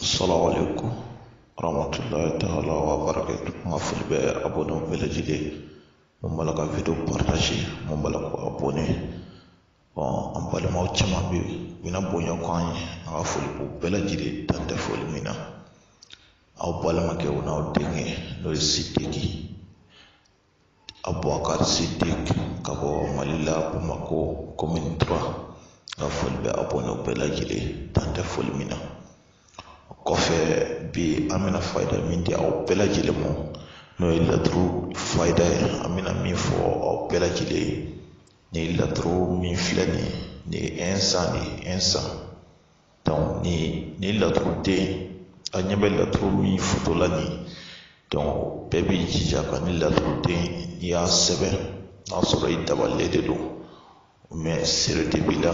Assalamu alaikum warahmatullahi ta'ala wa barakatuh an ka foli bɛ abonné bɛɛ lajɛlen mun b'a la ka video partage mun b'a la ka abonné bon an balimaw caman bɛ yen u bɛna bonya ko an ye an ka foli b'u bɛɛ lajɛlen dan tɛ foli min na aw balimakɛ o n'aw denkɛ n'o ye sidiki Abubakari Sidiki ka bɔ Mali la Bamakɔ commune 3 n ka foli bɛ abonnéw bɛɛ lajɛlen dan tɛ foli min na o kɔfɛ bi an bɛna fayida min di aw bɛɛ lajɛlen ma n'o ye laturu fayida ye an bɛna min fɔ aw bɛɛ lajɛlen ye nin laturu min filɛ nin ye nin ye insan de ye insan ni ni laturu den a ɲɛ bɛ laturu min foto la nin donc bɛɛ b'i jija ka ni laturu den n'i y'a sɛbɛn n'a sɔrɔ i dabalilen de don mais sere de b'i la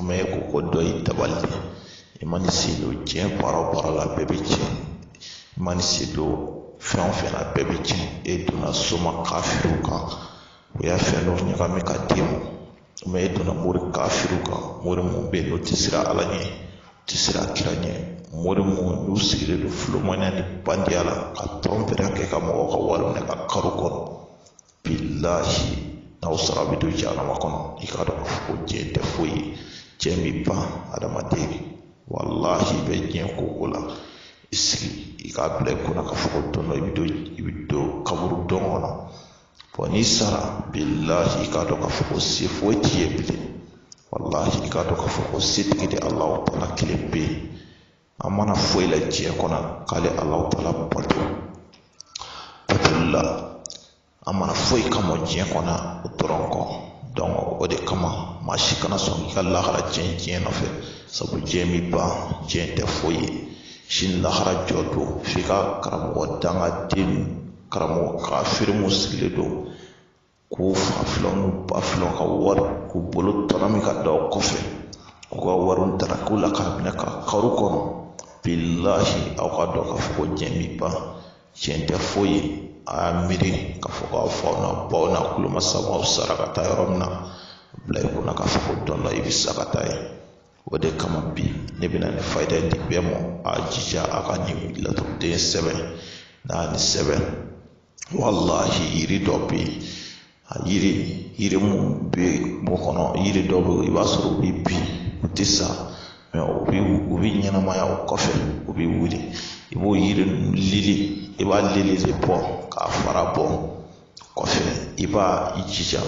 mais i ko ko dɔ y'i dabali de i man'i sen don diɲɛ baara o baara la bɛɛ bɛ tiɲɛ i man'i sen don fɛn o fɛn na bɛɛ bɛ tiɲɛ e donna soma kafiriw kan u ye fɛn dɔ ɲagami ka d'i ma mais e donna mori kafiriw kan mori minnu bɛ yen n'u tɛ siran ala ɲɛ u tɛ siran kira ɲɛ mori minnu n'u sigilen don filomaniya ni bandiya la ka trɔnpeya kɛ ka mɔgɔw ka wari minɛ ka karo kɔnɔ bilahi n'aw sara bɛ don jahanama kɔnɔ i k'a dɔn k'a fɔ ko diɲɛ tɛ foyi ye diɲɛ bɛ ban adamaden walahi i bɛ diɲɛ ko o la i sigi i k'a bila i kunna k'a fɔ ko don dɔ i bɛ don i bɛ don kaburu dɔ kɔnɔ bon n'i sara bilahi i k'a dɔn k'a fɔ ko se foyi t'i ye bilen walahi i k'a dɔn k'a fɔ ko setigi de alahu taala kelen bɛ yen an ma na foyi la diɲɛ kɔnɔ k'ale alahu taala bato batoli la an ma na foyi kama diɲɛ kɔnɔ o dɔrɔn kɔ o de kama maa si kana sɔn k'i ka lahara tiɲɛ diɲɛ nɔfɛ sabu diɲɛ bɛ ban diɲɛ tɛ foyi ye sini lahara jɔ don f'i ka karamɔgɔ dangaden karamɔgɔ kafiri mun sigilen don k'u fafilanw n'u bafilanw ka wari k'u bolo tɔnɔmi ka da u kɔfɛ k'u ka wariw tarak'u la k'a minɛ ka karo kɔnɔ bilahi aw k'a dɔn k'a fɔ ko diɲɛ bi ban diɲɛ tɛ foyi ye a y'a miiri k'a fɔ k'a faw n'a baw n'a kulomasa aw sara ka taa yɔrɔ min na bila i kunna k'a fɔ ko don dɔ i bɛ sa ka taa yen o de kama bi ne bɛna nin fayida in di bɛɛ ma a jija a ka nin laturuden sɛbɛn n'a ni sɛbɛn walahi yiri dɔ bɛ yen a yiri yiri mun bɛ bɔ kɔnɔ yiri dɔ bɛ yen i b'a sɔrɔ u bɛ bin u tɛ sa mais u bɛ u bɛ ɲɛnamaya o kɔfɛ u bɛ wuli i b'o yiri lili i b'a lili de bɔ k'a fara bɔ kɔfɛ i b'a i jija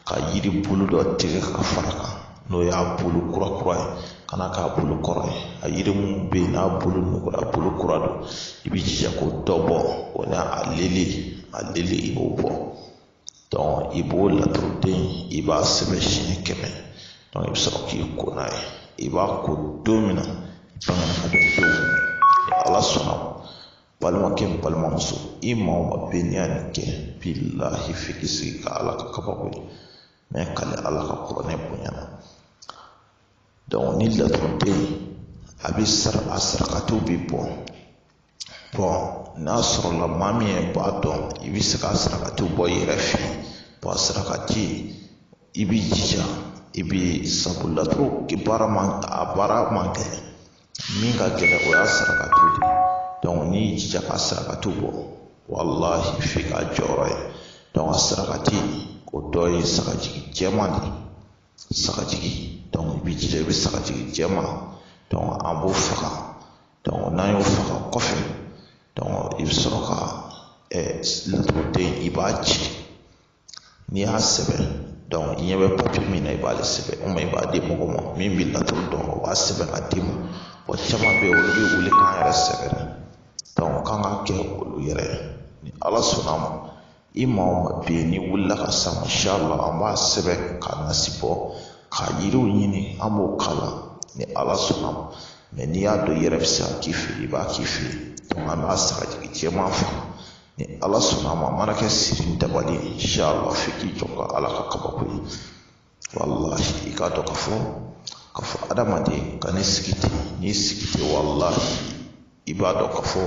ka yiri bulu dɔ tigɛ ka fara kan n'o y'a bulu kura kura ye kana k'a bulu kɔrɔ ye a yiri mun bɛ yen n'a bulu nugura bulu kura don i b'i jija k'o dɔ bɔ o n'a a lili a lili i b'o bɔ i b'o laturuden i b'a sɛbɛn siɲɛ kɛmɛ i bɛ sɔrɔ k'i ko n'a ye i b'a ko don min na i kan k'a don dɔn ni ala sɔnna balimakɛ ni balimamuso i maa o maa bɛ n'i y'a nin kɛ bilahi f'i k'i sigi ka ala ka kabako ye n bɛ kali ala ka kuranɛ bonya na ni laturuden a bɛ sara a sarakatiw bɛ bɔ n'a sɔrɔla maa min ye b'a dɔn i bɛ se ka sarakatiw bɔ i yɛrɛ fɛ yen sarakati i b'i jija i bɛ sabu laturu baara man gɛlɛn min ka gɛlɛn o y'a sarakatiw de ye n'i y'i jija ka sarakatiw bɔ walahi f'i k'a jɔyɔrɔ ye a sarakati o dɔ ye sagajigi jɛman de ye sagajigi i b'i jija i bɛ sagajigi jɛman an b'o faga n'an y'o faga kɔfɛ i bɛ sɔrɔ ka laturuden i b'a ci n'i y'a sɛbɛn i ɲɛ bɛ papiye min na i b'ale sɛbɛn o ma i b'a di mɔgɔ ma min bɛ laturu dɔn o b'a sɛbɛn ka d'i ma wa caman bɛ yen olu bɛ wuli k'an yɛrɛ sɛbɛn k'an ka kɛ olu yɛrɛ ye ni ala sɔnna a ma i maa o maa bɛ yen n'i wulila ka s'an ma inshala an b'a sɛbɛn k'a nasi bɔ ka yiriw ɲini an b'o k'a la ni ala sɔnna ma mɛ n'i y'a dɔn i yɛrɛ bɛ se k'a k'i fɛ i b'a k'i fɛ yen an b'a sagajigi jɛman faga ni ala sɔnna a ma a mana kɛ siri ni dabali ye inshala f'i k'i jɔ ka ala ka kabako ye walahi i k'a dɔn ka fɔ ka fɔ adamaden kan'i sigi ten n'i sigi ten walahi i b'a dɔn ka fɔ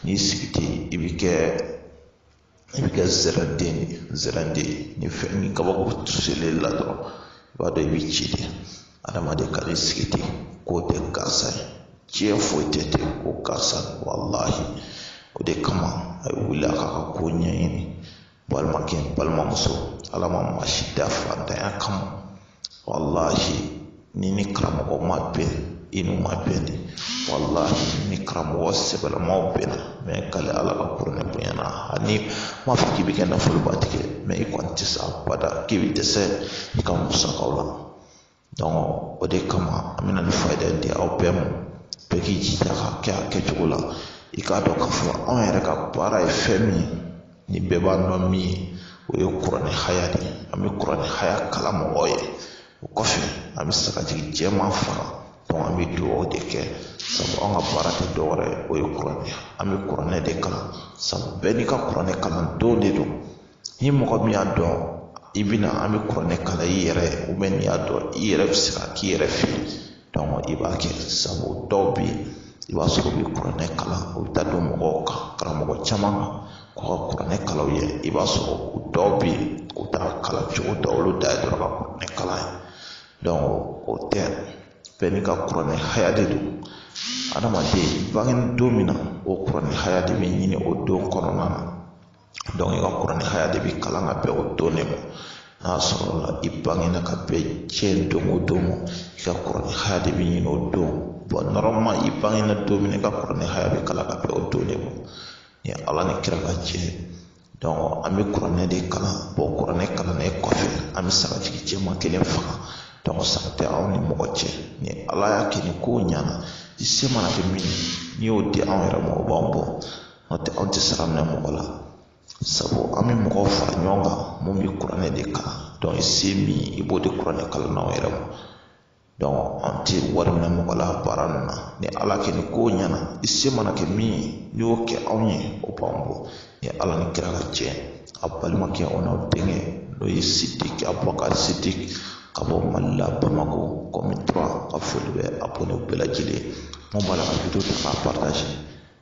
n'i sigi ten i bi kɛ i bi kɛ zɛrɛnden zɛrɛnden ni fɛn ni kabako tusuli la dɔrɔn i b'a dɔn i bi ci de adamaden kan'i sigi ten k'o tɛ gansan ye diɲɛ foyi tɛ ten ko gansan walahi o de kama a ye wuli a k'a ka ko ɲɛɲini balimakɛ balimamuso ala ma maa si da fantanya kama walahi ni ni karamɔgɔ ma bɛn i n'u ma bɛn de walahi ni karamɔgɔ sɛbɛlamaw bɛnna n bɛ kali ala ka kuranɛ bonya na ani m'a fɔ k'i bɛ kɛ nafolobatigi ye mɛ i kɔni tɛ se abada k'i bɛ dɛsɛ i ka musakaw la o de kama an bɛna nin faayida di aw bɛɛ ma bɛɛ k'i jija ka kɛ a kɛcogo la i k'a dɔn k'a fɔ anw yɛrɛ ka baara ye fɛn min ye ni bɛɛ b'a dɔn min ye o ye kuranɛ haya de ye an bɛ kuranɛ haya kalan mɔgɔw ye o kɔfɛ an bɛ se ka sagajigi jɛman faga an bɛ dugawu de kɛ sabu an ka baara tɛ dɔwɛrɛ ye o ye kuranɛ an bɛ kuranɛ de kalan sabu bɛɛ n'i ka kuranɛ kalan don de don ni mɔgɔ min y'a dɔn i bɛ na an bɛ kuranɛ kalan i yɛrɛ ye ou bien n'i y'a dɔn i yɛrɛ bɛ se k'a k'i yɛrɛ fɛ donc i b'a kɛ sabu dɔw bɛ yen i b'a sɔrɔ u bɛ kuranɛ kalan u bɛ taa don mɔgɔw kan karamɔgɔ caman kan k'u ka kuranɛ kalan u ye i b'a sɔrɔ u dɔw bɛ yen u t'a kalan cogo dɔn olu dan ye dɔrɔn ka kuranɛ kalan ye donc o tɛ bɛɛ n'i ka kuranɛ haya de don adamaden bange don min na o kuranɛ haya de bɛ ɲini o don kɔnɔna na i ka kuranɛ haya de bɛ kalan ka bɛn o don de ma n'a sɔrɔla i bangena ka bɛn diɲɛ don o don ma i ka kuranɛ haya de bɛ ɲini o don bon normalement i bangena don min na i ka kuranɛ haya bɛ kalan ka bɛn o don de ma ni ala ni kira ka jɛ donc an bɛ kuranɛ de kalan bon kuranɛ kalannen kɔfɛ an bɛ sagajigi jɛman kelen faga donc sara tɛ anw ni mɔgɔ cɛ ni ala y'a kɛ ni ko ɲana i se mana kɛ min ye n'i y'o di anw yɛrɛ ma o b'an bɔ n'o tɛ anw tɛ sara minɛ mɔgɔ la sabu an bɛ mɔgɔw fara ɲɔgɔn kan minnu bɛ kuranɛ de kalan donc i se min i b'o di kuranɛ kalannaw yɛrɛ ma donc an tɛ wari minɛ mɔgɔ la baara ninnu na ni ala kɛ ni ko ɲɛna i se mana kɛ min ye n'i y'o kɛ anw ye o b'an bɔ ni ala ni kira ka jɛ a balimakɛ o n'aw denkɛ n'o ye sidiki abubakari sidiki ka bɔ mali la bamakɔ commune 3 n ka foli bɛ abonné bɛɛ lajɛlen minnu b'a la ka video ta k'a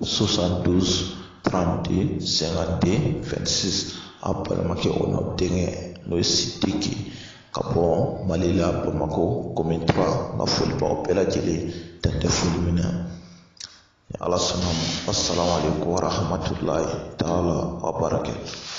72 32 52 26 a balimakɛ o n'aw denkɛ n'o ye sidiki ka bɔ mali la bamakɔ commune 3 n ka foli b'aw bɛɛ lajɛlen dan tɛ foli min na ni ala sɔnn'a ma assalamu alaikum warahmatulahi taala wa barakatuh